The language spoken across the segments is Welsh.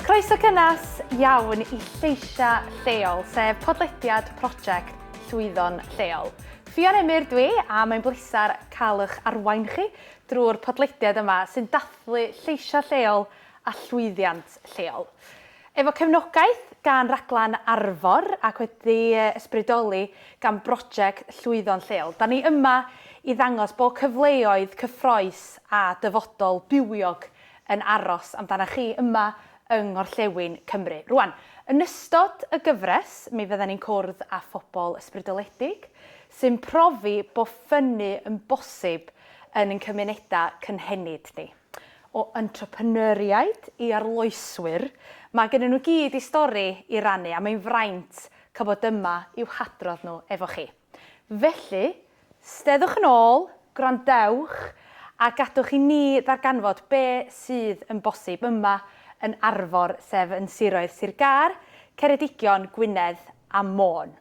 Croeso cynnes iawn i Lleisiau Lleol, sef podlediad prosiect Llwyddon Lleol. Ffion Emyr dwi, a mae'n bleser cael eich arwain chi drwy'r podlediad yma sy'n dathlu lleisiau lleol a llwyddiant lleol. Efo cefnogaeth gan Raglen Arfor ac wedi ysbrydoli gan broject Llwyddo'n Lleol, da ni yma i ddangos bod cyfleoedd cyffroes a dyfodol bywiog yn aros amdana chi yma yng Nghorllewin Cymru. Rŵan, yn ystod y gyfres, mi fyddan ni'n cwrdd â phobl ysbrydoledig sy'n profi bod ffynnu yn bosib yn ein cymunedau cynhenid ni. o entrepreneuriaid i arloeswyr, mae gennyn nhw i gyd eu stori i rannu a mae'n fraint cael bod yma i'w hadrodd nhw efo chi. Felly, steddwch yn ôl, gwrandewch a gadwch i ni ddarganfod be sydd yn bosib yma yn Arfor sef yn siroedd Sir Gâr, Ceredigion, Gwynedd a Môn.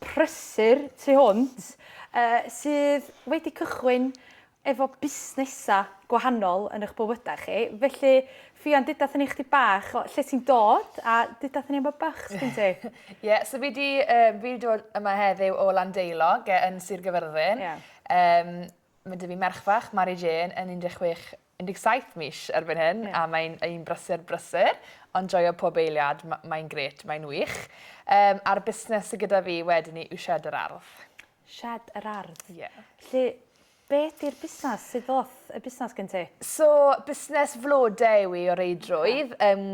prysur tu hwnt sydd wedi cychwyn efo busnesau gwahanol yn eich bywydau chi. Felly, Ffion, deuda wrthyn ni chdi bach o lle ti'n dod a deuda wrthyn ni am y bach sgyn ti. Ie, so fi di, uh, fi di dod yma heddiw o Landeilog yn Sir Gyfyrddin. Yeah. Um, mae dy fi merch fach, Mary Jane, yn 16 17 mis erbyn hyn a mae'n un brysur brysur ond joio pob eiliad, mae'n grêt, mae'n wych. Yym a'r busnes sy gyda fi wedyn 'ny yw Shed yr Ardd. Shed yr Ardd? Ie. Felly be' 'di'r busnes? Sud ddoth y busnes gen ti? So busnes flode yw 'i o reidrwydd yym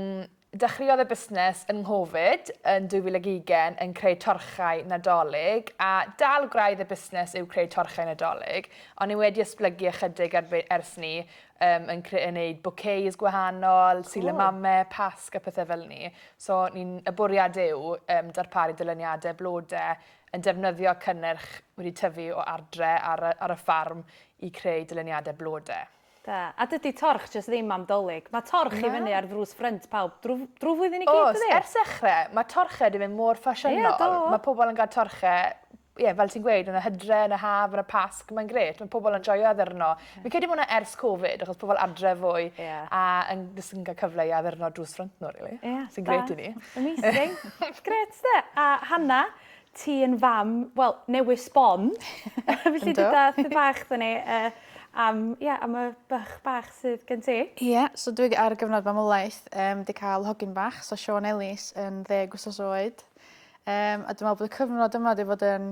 Dechreuodd y busnes yn Nghovid yn 2020 yn creu torchau Nadolig a dal gwraidd y busnes yw creu torchau Nadolig ond ni wedi esblygu ychydig ar ers 'ny yym yn creu yn neud bouquets gwahanol, silamame, pasg a pethe fel 'ny so ni'n y bwriad yw yym darparu dyluniade blode yn defnyddio cynnyrch wedi tyfu o adre ar y ar y ffarm i creu dyluniade blode. Da. A dydi torch jyst ddim am 'Dolig. Mae torch i fyny ar ddrws ffrynt pawb drw drwy flwyddyn i gyd dydi? Oes, ers ddechrau. Mae torchau 'di mynd mor ffasiynol. Ie, do. Mae pobl yn cael torchau, ie, fel ti'n gweud, yn y hydre, yn y haf, yn y Pasg. Mae'n grêt. Mae pobl yn joio addurno. Fi'n credu bod hwnna ers Covid, achos pobl adre fwy a yn jyst yn cael cyfle i addurno drws ffrynt nhw, rili. Ie, da. Sy'n grêt i ni. Amazing. Grêt, de. A Hannah, ti yn fam, wel, newydd sbon. Felly dy dath dy bach dda ni uh, am, yeah, am y bych bach sydd gen ti. Ie, yeah, so dwi ar y gyfnod mamolaeth um, di cael hogyn bach, so Sean Ellis yn ddeg wsos oed. Um, a dwi'n meddwl bod y cyfnod yma wedi bod yn,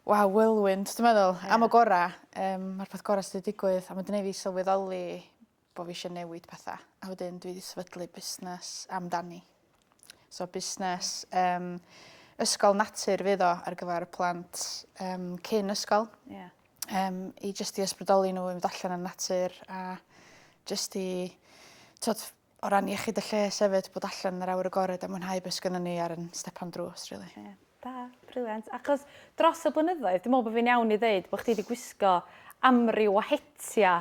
waw, whirlwind, dwi'n meddwl, yeah. am y gorau. Um, Mae'r peth gorau sydd wedi digwydd, a mae'n dweud fi sylweddoli bo' fi isio newid petha a wedyn dwi 'di sefydlu busnes amdani. So busnes yym ysgol natur fydd o ar gyfar y plant yym cyn ysgol. Ie. Yym i jyst i ysbrydoli n'w i fynd allan yn natur a jyst i t'od o ran iechyd y lles efyd bod allan yn yr awyr agored a mwynhau be' sgynnon ni ar 'yn stepan drws rili. Ie. Da. Brilliant. Achos dros y blynyddoedd dwi me'wl bo' fi'n iawn i ddeud bo' chdi 'di gwisgo amryw o hetia'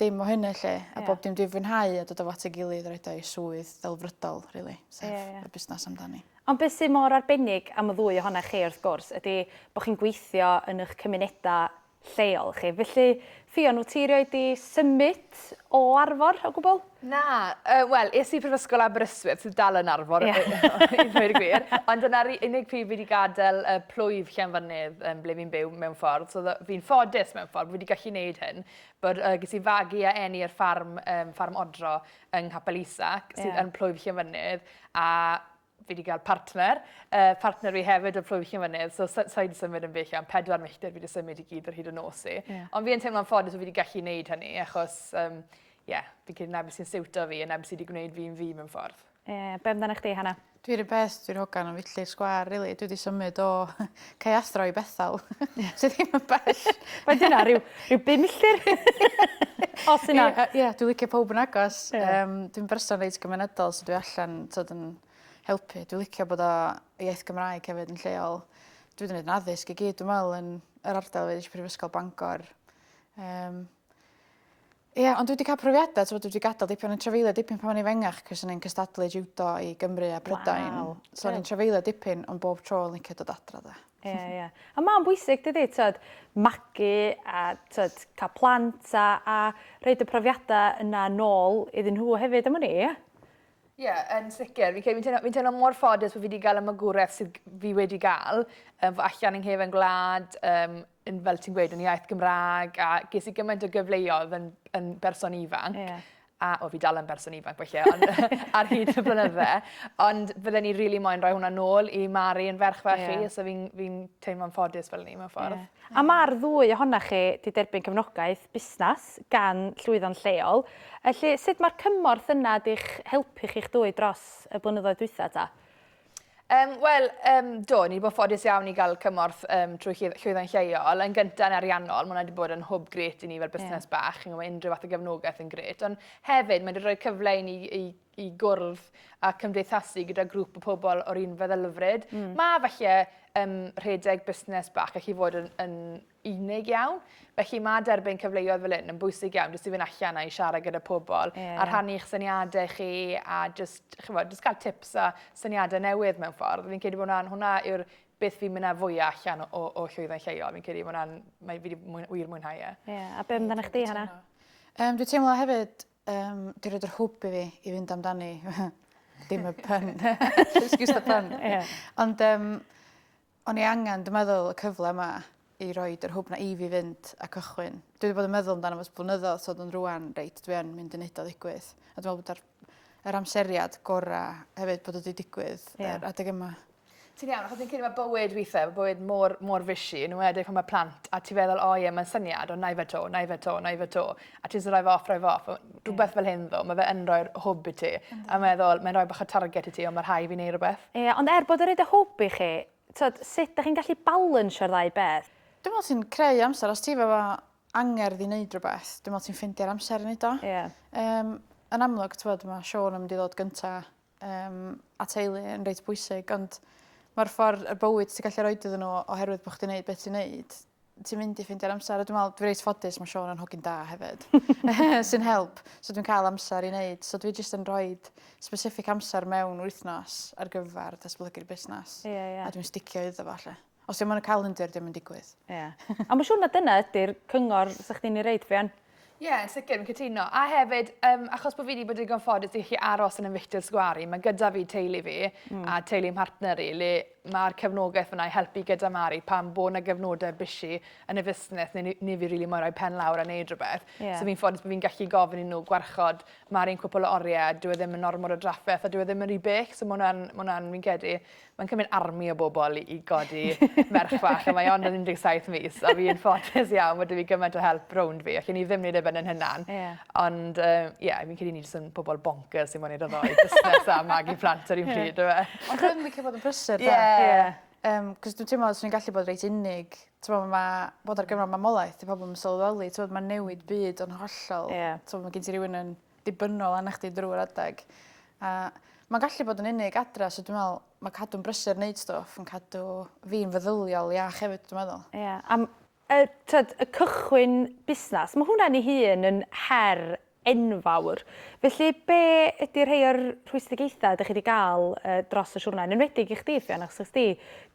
dim o hynny 'lly a bob dim dwi'n fwynhau a dod efo at ei gilydd a roid o i swydd delfrydol rili sef y busnas amdani. Ond beth sydd mor arbennig am y ddwy ohona chi wrth gwrs ydi bod chi'n gweithio yn eich cymunedau lleol chi felly Ffion wyt ti rioed 'di symud o Arfor o gwbl? Na yy wel es i Prifysgol Aberystwyth sydd dal yn Arfor i ddweud y gwir ond dyna'r unig pryd fi 'di gadael y plwyf Llanfynydd yym ble fi'n byw mewn ffordd so fi'n ffodus mewn ffordd fi 'di gallu neud hyn Bwrdd y Gysi Fagu a Eni ar ffarm, um, ffarm Odro yng Nghapel Isac, sydd yeah. yn Plwyf Llyfynydd, a fi wedi cael partner, uh, partner fi hefyd yn Plwyf Llyfynydd, so sa, sa i wedi symud yn bell am pedwar milltir, fi wedi symud i gyd ar hyd y nos i. Yeah. Ond fi yn teimlo'n ffodus bod fi wedi gallu gwneud hynny, achos, um, yeah, fi'n credu na beth sy'n siwto fi, a na beth sydd wedi gwneud fi'n fi mewn ffordd. Ie, be' amdanach chdi Hannah? Dwi 'r un peth dwi'n hogan am filltir sgwâr rili dwi 'di symud o Caeathro i Bethel sy ddim yn bell. Faint yna ryw ryw bum milltir? Os yna. Ie yy ie dwi licio powb yn agos yym dwi'n berson reit gymunedol so dwi allan t'od yn helpu dwi licio bod o iaith Gymraeg hefyd yn lleol. Dwi 'di neud 'n addysg i gyd dwi me'wl yn yr ardal fi nesh i prifysgol Bangor yym Ie, ond dwi 'di cael profiadau, t'mod dwi 'di gadael dipyn o'n trafeilio dipyn pan o'n i'n fengach cos o'n i'n cystadlu jiwdo i Gymru a Prydain. Waw, gwych. So o'n i'n trafeilio dipyn ond bob tro o'n licio dod adra 'de. Ie, ie. A ma'n bwysig dydi, t'od, magu a t'od, cael plant a a rhoid y profiadau yna nôl iddyn nhw hefyd am wn i, ie? Ie, yn sicr. Fi'n credu fi'n teimlo fi'n teimlo mor ffodus bo' fi 'di gael y magwraeth sydd g- fi wedi gael. Yym fo' allan yng nghefen gwlad yym yn, fel ti'n gweud, yn iaith Gymraeg, a ges i gymaint o gyfleoedd yn, yn berson ifanc. Yeah. A, o, fi dal yn berson ifanc, felly, ond, ar hyd y blynydde. Ond fydden ni rili really moyn rhoi hwnna nôl i Mari yn ferch fe yeah. chi, so fi'n fi, n, teimlo'n ffodus fel ni mewn ffordd. Yeah. A mae'r ddwy ohona chi wedi derbyn cefnogaeth busnes gan llwyddo'n lleol. Felly, sut mae'r cymorth yna di'ch helpu chi'ch dwy dros y blynyddoedd dwytha ta? Um, Wel, um, do, ni wedi bod ffodus iawn i gael cymorth um, trwy llwyddo'n lleol. Yn gyntaf yn ariannol, mae hwnna wedi bod yn hwb gret i ni fel busnes yeah. bach. Chi'n gwybod, unrhyw fath o gefnogaeth yn gret. Ond hefyd, mae wedi rhoi cyfle i ni i, i gwrdd a cymdeithasu gyda grŵp o pobl o'r un feddylfryd. Mm. Mae felly um, rhedeg busnes bach, gallu fod yn, yn unig iawn. Felly mae derbyn cyfleoedd fel hyn yn bwysig iawn, jyst i fynd allan a'i siarad gyda pobl, yeah. a rhannu eich syniadau chi, a jyst, chi'n fawr, jyst cael tips a syniadau newydd mewn ffordd. Fi'n credu bod hwnna, hwnna yw'r beth fi'n mynd â fwyaf allan o, o, o llwyddo'n lleol. Fi'n credu bod hwnna'n, mae fi wedi wir mwynhau e. Ie, yeah. a be amdano chdi, Hannah? Um, dwi'n teimlo hefyd, um, dwi'n rhaid yr hwb i fi i fynd amdani. Dim y pun. Excuse the pun. Yeah. Ond um, O'n i angen dwi meddwl y cyfle 'ma i roid yr hwb 'na i fi fynd a cychwyn. Dwi 'di bod yn meddwl amdano fo ers blynyddodd t'od ond rŵan reit dwi yn mynd i neud o ddigwydd. A dwi me'wl bod yr yr amseriad gora' hefyd bod o 'di digwydd... Ie. ...yr adeg yma. Ti'n iawn achos fi'n credu ma' bywyd withe ma' bywyd mor mor fishi yn enwedig pan ma' plant a ti feddwl o ie ma'n syniad on' 'nai fe 'to 'nai fe 'to 'nai fe 'to. a ti jyst yn rhoi fe off rhoi fe off a ma'... Rhwbeth fel hyn ddo' ma' fe yn rhoi'r hwb i ti. Yndi. A meddwl mae'n rhoi bach o target i ti on' ma' rhai' fi neu' rwbeth. Ie ond er bod o roid y hwb i chi t'od sut dych chi'n gallu balansio'r ddau beth? Dwi me'wl ti'n creu amser os ti efo angerdd i neud rwbeth dwi me'wl ti'n ffeindio'r amser i neud o. Ie. Yym yn amlwg t'mod ma' Siôn yn mynd i ddod gynta yym a teulu yn reit bwysig ond ma'r ffor y bywyd ti gallu roid iddyn n'w oherwydd bo' chdi neud be' ti neud ti'n mynd i ffindio'r amser a dwi me'wl dwi reit ffodus ma' Siôn yn hogyn da hefyd sy'n help so dwi'n ca'l amser i neud so dwi jyst yn rhoid specific amser mewn wythnos ar gyfar datblygu'r busnas. Ie ie. A dwi'n sticio iddo fo 'lly. Os dim ond y calendr, dim yn digwydd. Ie. A mae'n siŵr na dyna ydy'r cyngor sa'ch di'n ei reid, Brian? Ie, yeah, yn sicr, yn cytuno. A hefyd, um, achos bod fi wedi bod yn gonffodus i chi aros yn ymwylltio'r sgwari, mae gyda fi teulu fi mm. a teulu yn partner i, le mae'r cefnogaeth fyna i helpu gyda Mari pan bod yna gefnodau bysi yn y fusnes neu ni fi rili moerau pen lawr a neud rhywbeth. Yeah. So fi'n ffodus bod fi'n gallu gofyn i nhw gwarchod Mari'n cwpl o oriau, dwi e ddim yn ormod o drafferth a dwi e ddim yn rhy bech, so mae hwnna'n, fi'n credu, Mae'n cymryd army o bobl i i godi merch fach a mae ond yn 17 mis a fi'n ffodus iawn bod 'da fi gymaint o help rownd fi. Allwn i ddim neud e ben yn hunan. Ie. Ond yy ie fi'n credu ni jyst yn pobol boncyrs sy'n moyn neud y ddou busnes a magu plant ar un pryd on'd yfe? Ond rhyngrwyd yn gallu bod yn brysur 'de? Ie. Ie. Yym 'c'os dwi teimlo swn i'n gallu bod reit unig. T'mo' ma' bod ar gyfan mamolaeth 'di pobol 'im yn sylweddoli t'mod ma'n newid byd o'n hollol. Ie. T'mo' ma' gen ti rywun yn dibynnol arna chdi drwy'r adeg a ma'n gallu bod yn unig adra so dwi me'wl ma' cadw'n brysur neud stwff yn cadw fi'n feddyliol iach hefyd dwi meddwl. Ie a m- yy t'od y cychwyn busnas ma' hwnna'n ei hun yn her enfawr felly be' ydi rhei o'r rhwystredigaetha' 'dych chi 'di ga'l yy dros y siwrne yn enwedig i chdi Ffion achos nes di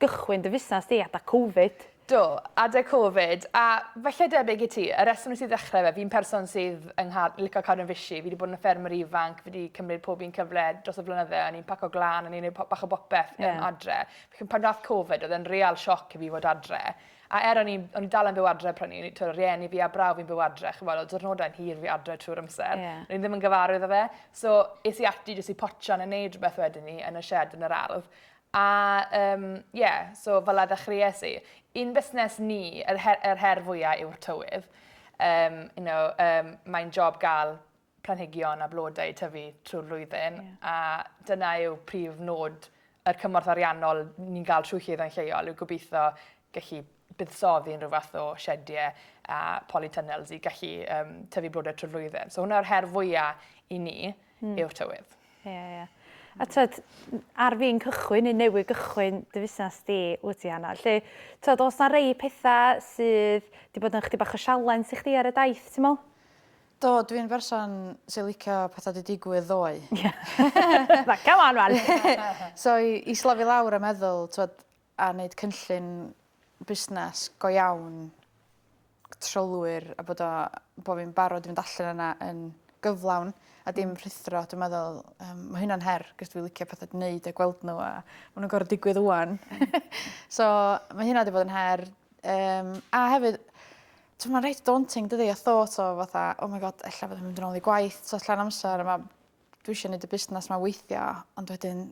gychwyn dy fusnas di adag covid. Do, adeg covid, a falle debyg i ti, y reswm nes i ddechrau fe, fi'n person sydd yng nghad- lico cadw'n fishy, fi wedi bod yn ffermwr ifanc, fi wedi cymryd pob un cyfle dros y flynydde, o'n i'n paco glan, o'n i'n neud bach o bopeth yn yeah. adre. Felly pan nath covid, oedd e'n real sioc i fi fod adre. A er o'n i'n o'n i dal yn byw adre prynu, o'n tw'r rieni fi a braw fi'n byw adre, ch'mod, o'dd diwrnodau'n hir fi adre trwy'r amser. Yeah. O'n i ddim yn gyfarwydd o fe. So, es i ati jyst i potio yn y neud rhywbeth wedyn ni yn y shed yn yr ardd. A yym ie, so fel 'a ddechreues i. I'n busnes ni yr he- yr her fwya' yw'r tywydd. Yym you know yym mae'n job ga'l planhigion a blodau i tyfu trwy'r flwyddyn. Ie. A dyna yw prif nod yr cymorth ariannol ni'n ga'l trwy Llwyddo'n Lleol yw gobitho gallu buddsoddi yn rhyw fath o siediau a polytunnels i gallu um, tyfu blodau trwy flwyddyn. So hwnna'r her fwyaf i ni mm. yw'r tywydd. Ie, yeah, ie. Yeah. A tyd, ar fi'n cychwyn, neu newydd gychwyn dy fusnes di, wyt ti Anna. Lle, tyd, os na rei pethau sydd wedi bod yn chdi bach o sialens i chdi ar y daith, ti'n meddwl? Do, dwi'n berson sy'n licio pethau di digwydd ddoe. Ie. Na, come on, man. so, i, i slofi lawr a meddwl, tyd, a neud cynllun busnes go iawn gy trylwyr a bod o bo' fi'n barod i fynd allan yna yn gyflawn a dim rhuthro dwi meddwl yym ma' hynna'n her 'c'os dwi licio pethe gneud a gweld n'w a ma' nw'n gor'o' digwydd ŵan. So ma' hynna 'di bod yn her yym a hefyd t'mo' ma'n reit daunting dydi y thought o fatha oh my God ella fyddai'n mynd yn ôl i gwaith t'o' llawn amser a ma' dwi isio neud y busnas 'ma weithio ond wedyn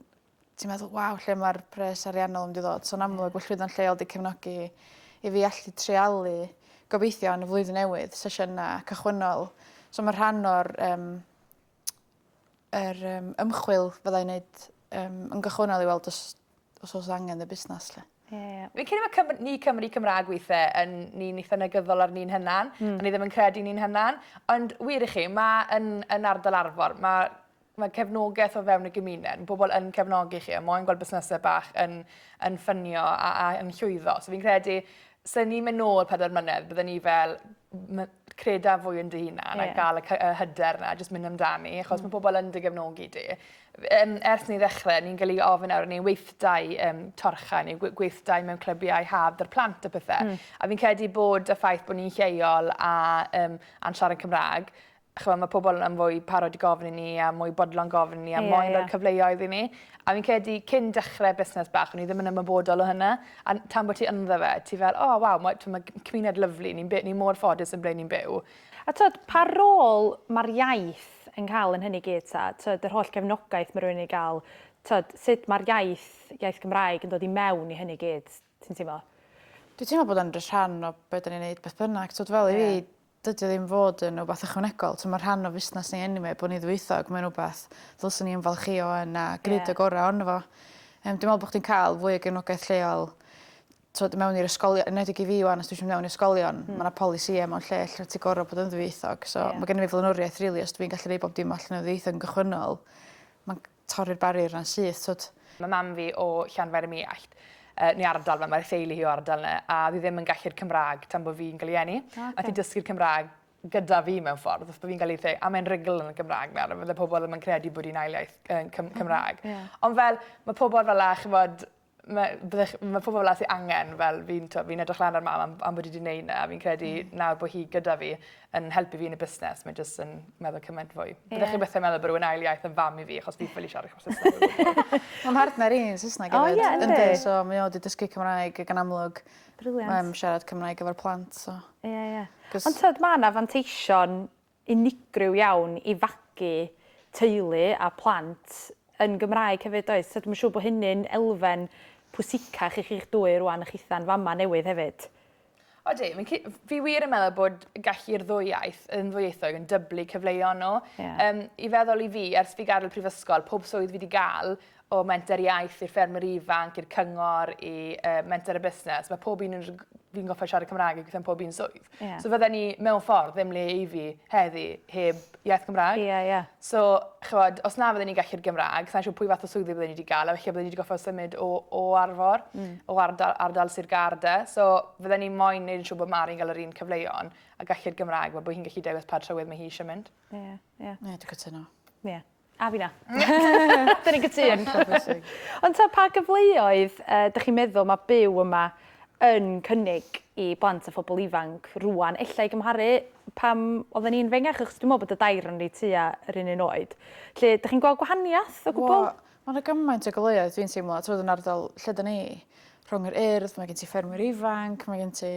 ti'n meddwl waw lle ma'r pres ariannol mynd i ddod so yn amlwg bo' llwyddo'n lleol 'di cefnogi i fi allu treialu gobeithio yn y flwyddyn newydd sesiyna cychwynnol so ma' rhan o'r yym yr yym ymchwil fyddai'n neud yym yn gychwynnol i weld os os o's angen y busnas 'lly. Ie ie. Fi'n credu ma' Cymr- ni Cymry Cymra'g withe yn ni'n itha negyddol ar ni'n hunan. Hmm. A ni ddim yn credu ni'n hunan. Ond wir i chi ma' yn yn ardal Arfor ma' mae cefnogaeth o fewn y gymuned, mae pobl yn cefnogi chi, a moyn gweld busnesau bach yn, yn ffynio a, a yn llwyddo. So fi'n credu, sy'n ni'n mynd nôl pedair mlynedd, byddwn ni fel creda fwy yn dy hunan yeah. a gael y, y hyder yna, jyst mynd amdani, achos mm. mae pobl yn dy gefnogi di. Um, ers ni ddechrau, ni'n gallu ofyn nawr, ni'n weithdau um, torcha, ni'n gweithdau mewn clybiau haf dy'r plant a pethau. Mm. A fi'n credu bod y ffaith bod ni'n lleol a, um, a'n siarad Cymraeg, ch'mo' ma' pobol yn fwy parod i gofyn i ni a mwy bodlon gofyn i ni a moyn roi cyfleoedd i ni. A fi'n credu cyn dechre busnes bach o'n i ddim yn ymwybodol o hynna a n- tan bo' ti ynddo fe ti fel o waw ma' t'mo' ma' g- cymuned lyfli ni'n by- ni mor ffodus yn ble ni'n byw. A t'od pa rôl ma'r iaith yn ca'l yn hynny gyd 'ta? T'od yr holl gefnogaeth ma' rywun yn ei ga'l t'od sud ma'r iaith iaith Gymraeg yn dod i mewn i hynny gyd ti'n teimlo? Dwi teimlo bod o'n jys rhan o be' 'dan ni'n neud beth bynnag t'od fel i fi Dydi o ddim fod yn wbath ychwanegol. T'mo' ma' rhan o fusnas ni eniwe bo' ni ddwyieithog mae'n wbath ddylswn i ymfalchïo yn a gneud y gora' ono fo. Yym dwi me'wl bo' chdi'n ca'l fwy o gefnogaeth lleol t'wod mewn i'r ysgolion enedig i fi ŵan os dwi isio myn' mewn i ysgolion ma' 'na polisie mewn lle lle ti gor'o' bod yn ddwyieithog so ma' genno fi flaenoriaeth rili os dwi'n gallu neu' bob dim allan o ddwyieithog yn gychwynnol ma'n torri'r barrier 'na'n syth t'od? Ma' mam fi o Llanfair-ym-Muallt yy neu ardal 'ma ma'r theulu hi o ardal 'na a o'dd 'i ddim yn gallu'r Cymra'g tan bo' fi'n ga'l 'i eni. O oce. Nath 'i dysgu'r Cymra'g gyda fi mewn ffordd wrth bo' fi'n ga'l 'i ddeu- a mae'n rugl yn y Gymra'g nawr a fydde pobol ddim yn credu bod 'i'n ail iaith yy Cym- Cymra'g. Ie. Ond fel ma' pobol fel 'a ch'mod mae, byddech, mae pobl fel sy'n angen, fel fi'n fi edrych lan ar mam am, am bod wedi gwneud yna, a fi'n credu mm. nawr bod hi gyda fi yn helpu fi yn y busnes, mae'n jyst yn meddwl cymaint fwy. Yeah. Byddech chi'n bethau meddwl bod rhywun ail iaith yn fam i fi, achos fi'n ffili siarad eich Saesneg. Mae'n partner i yn Saesneg oh, yeah, ynddi. So mae o wedi dysgu Cymraeg ac yn amlwg. Briliant. Mae'n siarad Cymraeg efo'r plant. So. Ie, yeah, ie. Yeah. Ond tyd, mae yna fanteision unigryw iawn i fagu teulu a phlant yn Gymraeg hefyd does? So dwi'm yn siŵr bod hynny'n elfen pwysicach i chi'ch dwy rwan a chitha'n fama newydd hefyd. Odi, fi wir yn meddwl bod gallu'r ddwy iaith yn ddwyieithog yn dyblu cyfleoedd nhw. Yeah. Um, I feddwl i fi, ers fi gadael prifysgol, pob swydd fi wedi gael, o menter iaith i'r ffermwyr ifanc, i'r cyngor, i uh, menter y busnes, mae pob un yn fi'n goffa siarad Cymraeg i gweithio'n pob un swydd. Yeah. So fydden ni mewn ffordd ddim le i fi heddi heb iaith Cymraeg. Yeah, yeah. So, chywod, os na fydden ni'n gallu'r Gymraeg, sa'n siŵr pwy fath o swyddi bydden ni wedi gael, a felly bydden ni wedi goffa symud o, o arfor, mm. o ardal, ardal Sir Garda. So fydden ni moyn neud yn siŵr bod Mari'n gael yr un cyfleon a gallu'r Gymraeg, bod hi'n gallu dewis pa trywydd mae hi eisiau mynd. Ie, yeah, ie. Yeah. Ie, yeah, dwi'n cytuno. Ie. Yeah. A fi na. Da ni'n gytûn. Ond ta pa gyfleoedd uh, dych chi'n meddwl mae byw yma yn cynnig i blant a phobl ifanc rwan, ella i gymharu pam oedden ni'n fengach, achos dwi'n meddwl bod y dair yn reit tua yr un un oed. Lle, dych chi'n gweld gwahaniaeth o gwbl? Mae yna gymaint o gyfleoedd dwi'n teimlo, trwy'r yn ardal lle dyn ni rhwng yr urdd, mae gen ti ffermwyr ifanc, mae gen ti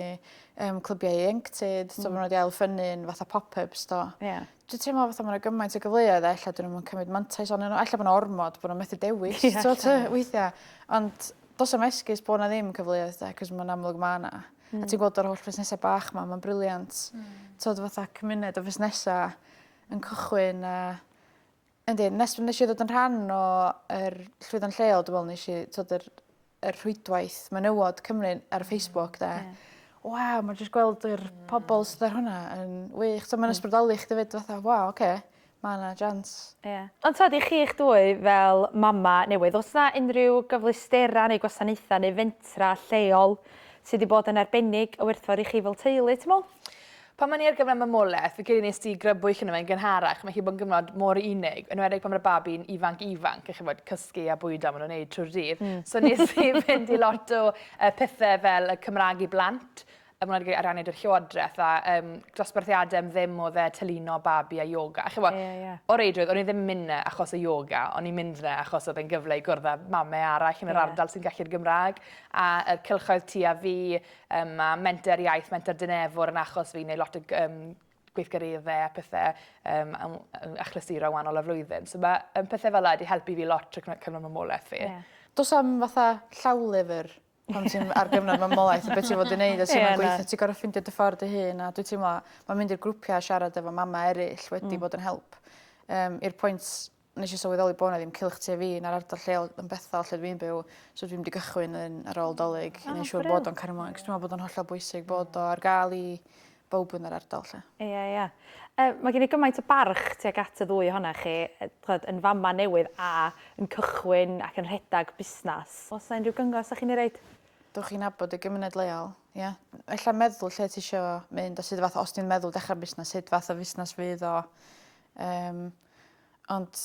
um, clybiau ieuenctid, mm. so maen nhw wedi ail ffynnu'n fatha pop-ups do. Yeah. dwi'n teimlo fatha mae yna gymaint o gyfleoedd a ella dyn nhw'n cymryd mantais o'n nhw. Ella bod yna ormod bod nhw'n methu dewis, yeah, so, yeah. weithiau. Ond dos am esgus bod yna ddim cyfleoedd da, cos mae'n amlwg mae yna. Mm. A ti'n gweld o'r holl fusnesau bach yma, mae'n briliant. Mm. Tod fatha cymuned o fusnesau yn cychwyn a Yndi nes fi neshi ddod yn rhan o yr llwyddant lleol dwi me'wl nesh i t'od yr y rhwydwaith menywod Cymru ar Facebook 'de. Ie. Waw ma' jyst gweld yr pobol sydd ar hwnna yn wych t'o' ma'n ysbrydoli chdi 'fyd fatha waw oce ma' 'na jians. Ie. Ond t'od i chi'ch dwy fel mama newydd o's 'na unrhyw gyfleustera neu gwasanaetha neu fentra lleol sy 'di bod yn arbennig o werthfawr i chi fel teulu ti me'wl? Pan o'n i ar gyfer mamolaeth, fi credu nes ti grybwyll yno fe yn gynharach, mae hi bod yn gyfnod mor unig, enwedig pan mae'r babi'n ifanc ifanc, a chi'n gwybod, cysgu a bwydo maen nhw'n neud trwy'r dydd. Mm. So nes i fynd i lot o uh, pethau fel y Cymraeg i blant, y mwynhad ar aned yr llywodraeth a um, dosbarthiadau am ddim o dde tylino babi a yoga. A chi'n gwybod, yeah, yeah. o reidrwydd, o'n i ddim yn mynd na achos y yoga, o'n i'n mynd na achos oedd e'n gyfle i gwrdd â mamau arall yn yr yeah. ardal sy'n gallu'r Gymraeg, a y cylchoedd tu a fi, Um, mae menter iaith, menter dynefwr yn achos fi, neu lot o um, gweithgareddau a pethau um, achlysuro wahanol y flwyddyn. So mae um, pethau fel yna wedi helpu fi lot trwy cyfnod mamolaeth fi. Yeah. Dos am fatha llawlyfr pan ti'n ar gyfnod mamolaeth a beth ti'n fod i wneud a ti'n yeah, gweithio, ti'n gorau ffeindio dy ffordd dy hun a dwi'n teimlo, mae'n mynd i'r grwpiau a siarad efo mama eraill wedi mm. bod yn help um, i'r pwynt nesh i sylweddoli bo' 'na ddim cylch tu a fi na'r ardal lleol yn bethol lle dwi'n byw so dwi mynd i gychwyn yn ar ôl 'Dolig i neu' siŵr bod o'n cario mlaen 'c'os dwi me'wl bod o'n hollol bwysig bod o ar ga'l i bowb yn yr ardal 'lly. Ia ia. Yy ma' gen i gymaint o barch tuag at y ddwy ohona chi yy ch'od yn fama newydd a yn cychwyn ac yn rhedag busnas. O's 'na unryw gyngor 'sach chi'n ei roid? Dowch i nabod y gymuned leol ia? Ella meddwl lle tisio mynd a sud fath o os ti'n meddwl dechra busnas sud fath o fusnas fydd o yym Ond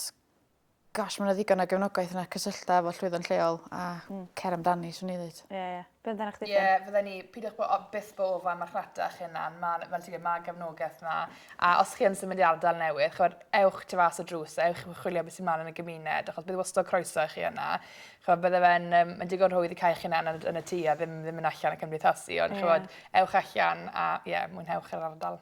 gosh ma' 'na ddigon o gefnogaeth yna cysyllta efo llwyddon lleol a... Hmm. ...cer amdani swn i ddeud. Ie ie. Be' amdanach chdi... Ie fydden i peidiwch bo' o- byth bo' ofan marchnata 'ych hunan ma' 'na fel ti gweud ma' gefnogaeth 'na a os chi yn symud i ardal newydd ch'od ewch tu fas y drws a ewch i chwilio be' sy mlan yn y gymuned achos bydd wastod croeso i chi yna. Ch'od bydde fe'n yym ma'n digon rhwydd i ca'l eich hunan yn y yn y tŷ a ddim ddim myn' allan a cymdeithasu ond ch'mod... Ie. ...ewch allan a ie mwynhewch yr ardal.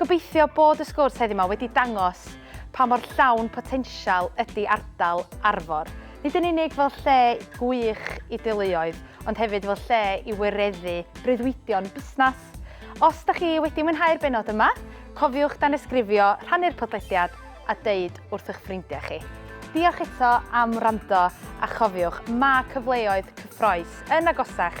Gobeithio bod y sgwrs heddiw yma wedi dangos pa mor llawn potensial ydy ardal Arfor, nid yn unig fel lle gwych i deuluoedd, ond hefyd fel lle i wireddu breuddwydion busnes. Os da chi wedi mwynhau'r benod yma, cofiwch danysgrifio, rhannu'r podlediad a deud wrth eich ffrindiau chi. Diolch eto am wrando a chofiwch, mae cyfleoedd cyffroes yn agosach